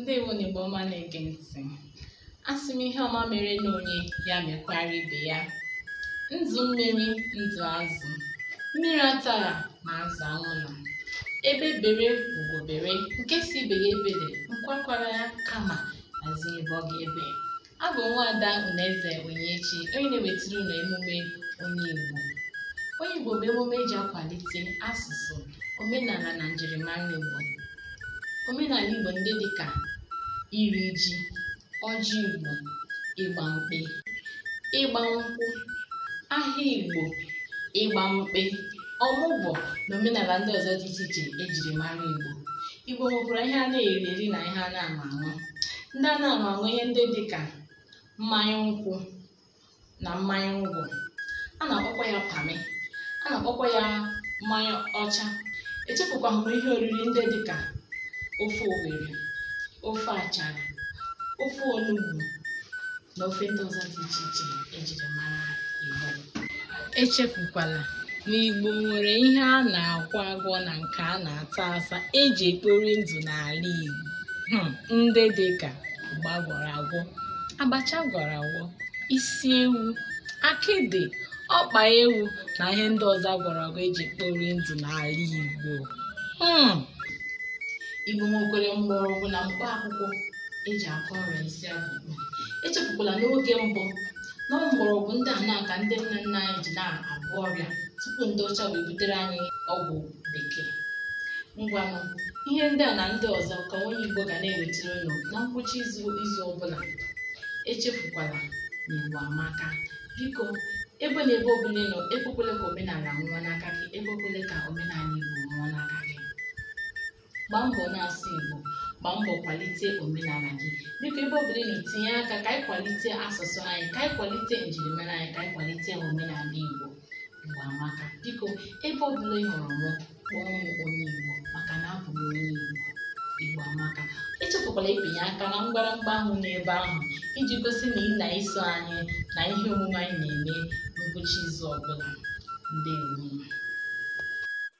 ndewo nụ igbo ọma na-ege ntị asị m ihe ọma mere na onye ya mekwara ibe ya ndụ mmiri ndụ azụ mmiri atara ma azụ anwụla egbe bere ugo bere nke sị ibe ya ebere nku akwakwara ya kama a zi ebe ọ ga-ebe Abụ m Nwaada Unaeze Onyinyechi, onye na-ewetara unu emume Onye Igbo. Onye Igbo bụ emume eji akwalite asụsụ, omenala na njirimara Igbo. Omenala Igbo ndị dị ka iri ji, ọjị Igbo, ịgba mkpe, ịgba nkwụ, ahịa Igbo, ịgba mkpe, ọmụgwọ na omenala ndị ọzọ dị iche iche ejiri mara Igbo. Igbo nwekwara ihe a na-eri eri na ihe a na-aṅụ aṅụ. ndị a na-aṅụ aṅụ ihe ndị dị ka mmanya nkwụ na mmanya ngwọ a na-akpọkwa ya pamị a na-akpọkwa ya mmanya ọcha echefukwaghị m ihe oriri ndị dị ka ofe owere ofe achara ofe onugbu na ofe ndị ọzọ dị iche iche ejiri mara Igbo echefukwala na Igbo nwere ihe a na-agwọ agwọ na nke a na-ata ata eji ekpori ndụ n'ala Igbo hmm, ndị dị ka ụgba gwọrọ agwọ abacha gwọrọ agwọ isi ewu akịdị ọkpa ewu na ihe ndị ọzọ gwọrọ agwọ eji ekpori ndụ n'ala Igbo hmm. Igbo nwekwere mgbọrọgwụ na mkpa akwụkwọ eji agwọ ọrịa isi agụgụ echefukwala n'oge mbụ na mgbọrọgwụ ndị a na-aka ndị nne nna anyị ji na-agwọ ọrịa tupu ndị ọcha wee butere anyị ọgwụ bekee ngwanụ ihe ndị a na ndị ọzọ ka onye igbo ga na-ewetara unu na ngwụcha izu ọbụla echefukwala na igbo amaka biko ebe na ebe ọbụla ị nọ ekwekwele ka omenala nwụọ n'aka gị ekwekwele ka omenala igbo nwụọ n'aka gị gbaa mbọ na-asụ Igbo gbaa mbọ kwalite omenala gị biko ebe ọbụla ị nọ tinye aka ka anyị kwalite asụsụ anyị ka anyị kwalite njirimara anyị ka anyị kwalite omenala Igbo Igbo amaka biko ebe ọbụla ị hụrụ mụ kpọọ m onye Igbo maka na abụ m onye Igbo Igbo amaka echefukwala ịpịnye aka na mgbịrịmgba ahụ n'ebe ahụ iji gosi na ị na-eso anyị na ihe omume anyị na-eme n'ụbọchị izu ọbụla ndewo